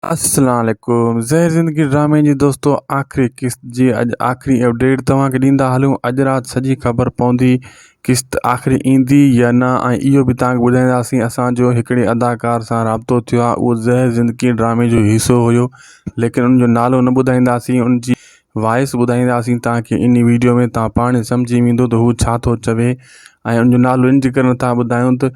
السلام عليڪم زهر زندگي ڊرامي جي دوستو آخري قسط جي اڄ آخري اپڊيٽ توهان کي ڏيندا هلون اڄ رات سڄي خبر پوندي قسط آخري ايندي يا نه ۽ اهو به توهان کي ٻڌائينداسين اسان جو هڪڙي اداڪار سان رابطو ٿيو آهي اهو زهر زندگي ڊرامي جو حصو هيو ليڪن ان جو نالو نه ٻڌائينداسين ان جي وائس ٻڌائينداسين توهان کي ان ويڊيو ۾ توهان پاڻ سمجهي ويندو ته هو ڇا ٿو چوي ۽ ان جو نالو ان جي ڪري نٿا ٻڌايون ته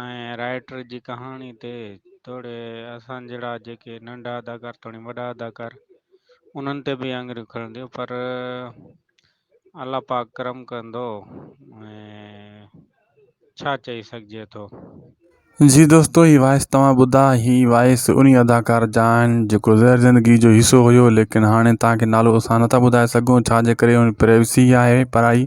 ۽ رائٽر جي ڪهاڻي تي توڙي اسان جهڙا جيڪي ننڍا اداڪار توڻي وڏا اداڪار انهن تي به آڱريون کڻنديون پر الله پاڪ ڪرم ڪندو ڇا چئي سگهجي ٿو. جي دوستو هي وائس توهان ٻڌا هي وائس انهي اداڪار جا آهن جيڪو زهر زندگي جو حصو هيو ليڪن هاڻي توهان کي نالو اسان نٿا ٻڌائي سگهون ڇا جي ڪري ان پرائيوسي آهي پرائي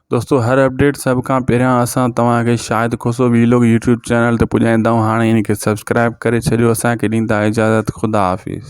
دوستو هر اپڊيٽ سڀ کان پهريان اسان توهان کي Shahid Khoso vlog YouTube channel تي پڄائيندا آهيون هاڻي ان کي سبسڪرائب ڪري ڇڏيو اسان کي ڏيندا اجازت خدا حافظ